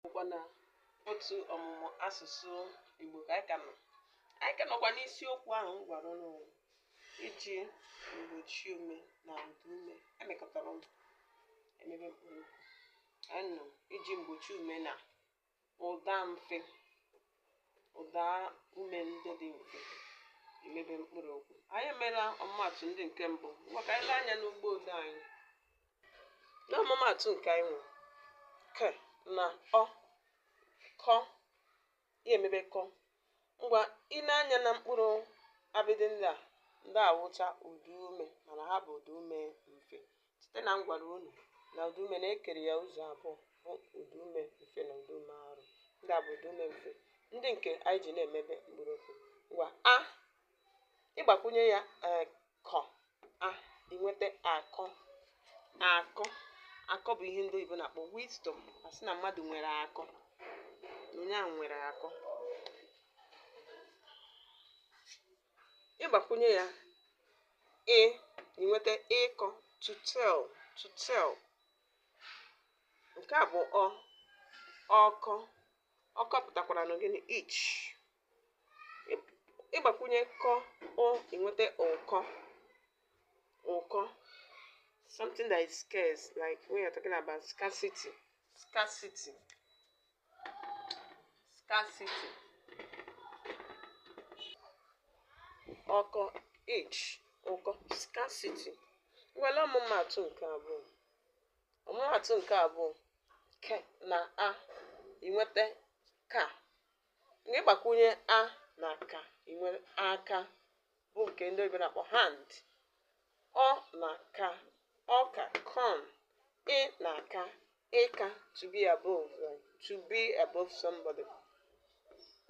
bụkwa na otu ọmụmụ asụsụ Igbo ka anyị ka nọ anyị ka nọkwa n'isiokwu ahụ m gwara ụnụ iji mgbochi ume na ụda ume emekọtara ọnụ emebe mkpụrụ okwu anyị nọ iji mgbochi ume na ụda mfe ụda ume ndị dị mfe emebe mkpụrụ okwu anyị emeela ọmụmatụ ndị nke mbụ ngwa ka anyị lee anya n'ugbo odee anyị na ọmụmatụ nke anyị nwere ke na ọ kọ ya emebe kọ ngwa i nee anya na mkpụrụ abịdị ndị a ndị a wụcha ụda ume mana ha bụ ụda ume mfe Site na m gwara unu na ụdaume na e kere ya ụzọ abụọ bụ ụdaume mfe na ụdaume arụ. Ndị a bụ ụdaume mfe ndị nke anyị ji na-emebe mkpụrụokwu. Ngwa a ị gbakwunye ya ee kọ a i nweta akọ akọ akọ bụ ihe ndị oyibo na-akpọ wisdom a sị na mmadụ nwere akọ na onye ahụ nwere akọ ị gbakwunye ya ị i nweta ịkọ to tell to tell nke a bụ ọ ọkọ ọkọ pụtakwaranụ gịnị itch ị gbakwunye kọ ụ i nweta ụkọ ụkọ something that is scarce like when you're talking about scarcity scarcity scarcity ọkọ itch ụkọ scarcity ngwa lee ọmụmatụ nke abụọ ọmụmatụ nke abụọ ke na a i nweta ka mgbe ị gbakwunye a na ka i nwere aka bụ nke ndị oyibo na-akpọ hand ọ na ka ọka corn ị na ka ịka to be above right? to be above somebody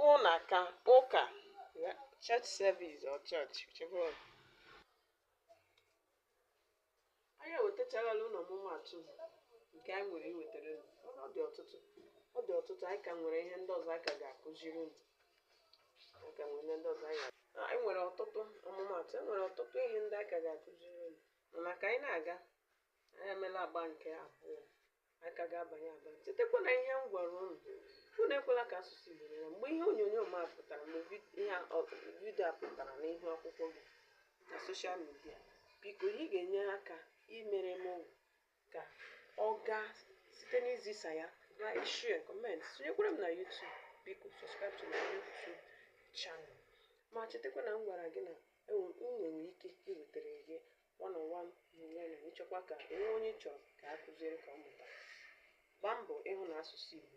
ụ na ka ụka yeah, church service or church whichever one. anyị ewetacharala unu ọmụmatụ nke anyị nwere iwetara unu mana ọ dị ọtụtụ ọ dị ọtụtụ anyị ka nwere ihe ndị ọzọ anyị ka ga-akụziri unu anyị ka nwere ihe ndị ọzọ anyị ga- Ah, anyị nwere ọtụtụ ọmụmatụ e nwere ọtụtụ ihe ndị anyị ka ga-akụziri unu mana ka anyị na-aga anyị emeela agba nke abụọ anyị ka ga-abanye abanye chetakwa na ihe m gwara ụnụ unu ekwela ka asụsụ Igbo nyere mgbe ihe onyonyo m a pụtara mgbe vid- ihe a- ọ- vidio a pụtara n'ihu akwụkwọ gị na soshal midia biko ihe ị ga-enye aka imere m ọ wụ ka ọ gaa site n'izisa ya like share comment sonyekwara m na YouTube biko subscribe to my YouTube channel ma chetakwa na m gwara gị na enwe- m nwere ike iwetara gị One on one na ị chọkwa ka e nwee onye ị chọrọ ka a kụziere ka ọ mụta. Gbaa mbọ ịhụ na asụsụ Igbo